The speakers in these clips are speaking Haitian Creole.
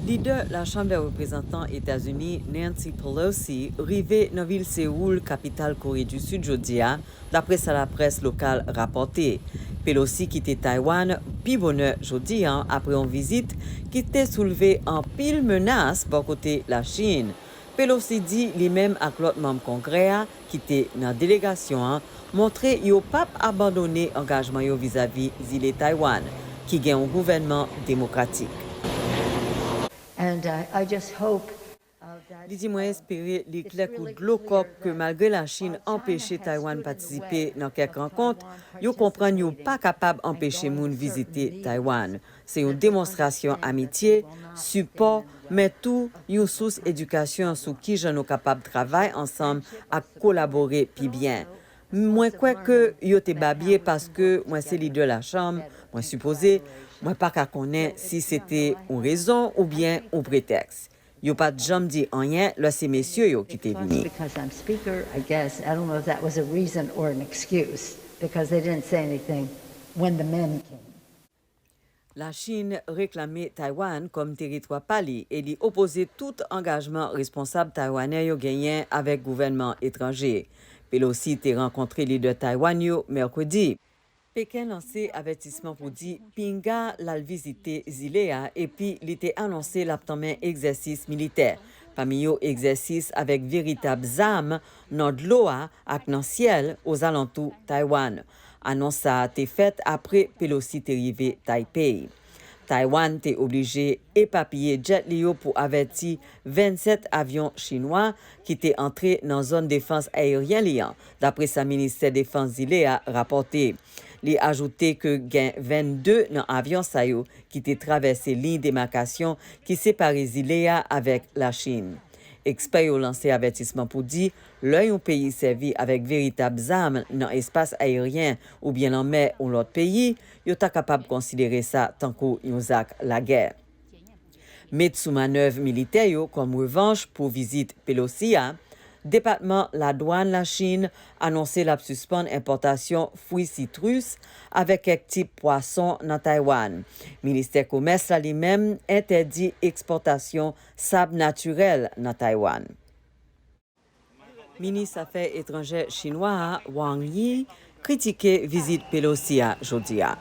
Lidè La Chanm dè Reprezantan Etazini Nancy Pelosi rive nan vil Seoul, kapital Kore di Sid jodi a, dapre sa laprès lokal rapòte. Pelosi kite Taiwan pi bonè jodi a apre yon vizit ki te soulve anpil menas bò kote Lachin. Pelosi di li menm ak lòt manm Kongrè a ki te nan delegasyon an montre yo p ap abandone angajman yo vizavi zile Taiwan ki gen yon gouvènman demokratik. Li di mwen espere li klè kou dlo kòk ke malgre Lachin anpeche Taiwan patisipe nan kèk rankont, yo konprann yo pa kapab anpeche moun vizite Taiwan. Se yon demonstrasyon amitye, sipò, men tou yon sous edikasyon sou kijan nou kapab travay ansanm ak kolabore pi byen. Mwen kwè ke yo te babye paske mwen se lidè lachanm, mwen sipoze, mwen pa ka konnen si se te yon rezon oubyen yon pretèks. Yo pa t janm di anyen lè se mesye yo ki te vini. Lachin reklame Taiwan kòm teritwa pa li e li opoze tout angajman responsab taiwanè yo genyen avèk gouvènman etranje. Pelosi te rankontre lidè Taiwan yo mèkredi. Peken lanse avètisman pou di pinga l al vizite zile a epi li te anonse l ap tanmen egzèsis militè, pami yo egzèsis avèk veritab zam nan dlo a ak nan syèl ozalantou Taiwan. Anons sa a te fèt apre Pelosi te rive Taipei. Taiwan te oblije epapiye djèt li yo pou avèti 27 avyon chinwa ki te antre nan zòn defans aeryen li an, dapre sa ministè defans zile a rapòte. Li ajoute ke gen 22 nan avyon sa yo ki te travèse liy demakasyon ki separe zile a avèk Lachin. Ekspè yo lanse avètisman pou di Lè yon peyi sèvi avèk veritab zam nan espas ayeryen oubyen lanmè yon lòt peyi, yo ta kapab konsidere sa tankou yon zak lagè. Met sou manèv militè yo kòm revanch pou vizit Pelosi a, Depatman Ladwàn Lachin anonse l ap sispann enpòtasyon fwi sitrus avèk kèk tip pwason nan Taywann. Ministè Komès la li menm entèdi ekspòtasyon sab natirèl nan Taywann. Minis afè etranjè chinwa a, Wang Yi, kritike vizit Pelosi a jodi a.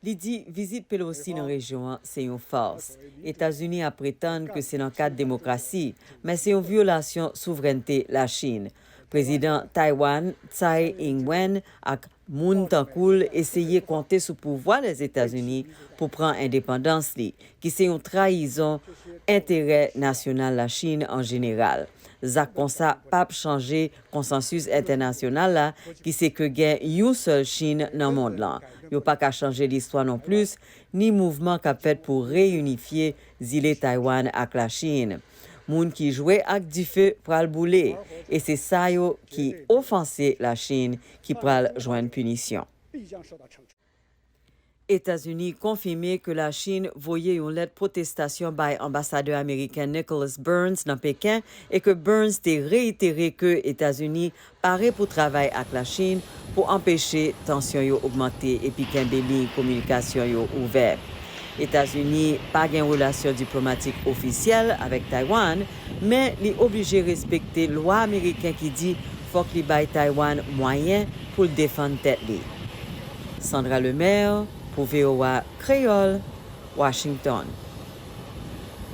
Li di vizit Pelosi nan rejyon an se yon fars. Etazini ap pretann ke se nan kad demokrasi, men se yon vyolasyon souvrènte Lachin. Prezidan Taiwan Tsai Ing-wen ak moun tankou l eseye konte sou pouvwa Lèzetazini pou pran endepandans li, ki se yon trayizon enterè nasyonal Lachin an jeneral. Zak konsa p ap chanje konsansis entènasyonal la ki se ke gen yon sèl Chin nan mond lan. Yo pa ka chanje listwa non plis, ni mouvman k ap fèt pou reyinifye zile Taiwan ak Lachin. Moun ki jwe ak dife pral boule e se sa yo ki ofanse Lachin ki pral jwenn pinisyon. Etazini konfime ke Lachin voye yon lèt pwotestasyon bay anbasadè ameriken Nicholas Burns nan Peken e ke Burns te reitere ke Etazini Pare pou travay ak Lachin pou anpeche tansyon yo ogmante epi kenbe liy kominikasyon yo ouvè. Etazini pa gen relasyon diplomatik ofisyèl avèk Taywann, men li oblije respekte lwa ameriken ki di fòk li bay Taywann mwayen pou l defann tèt li. Sandra Lemaire pou voa Kreyòl, Washington.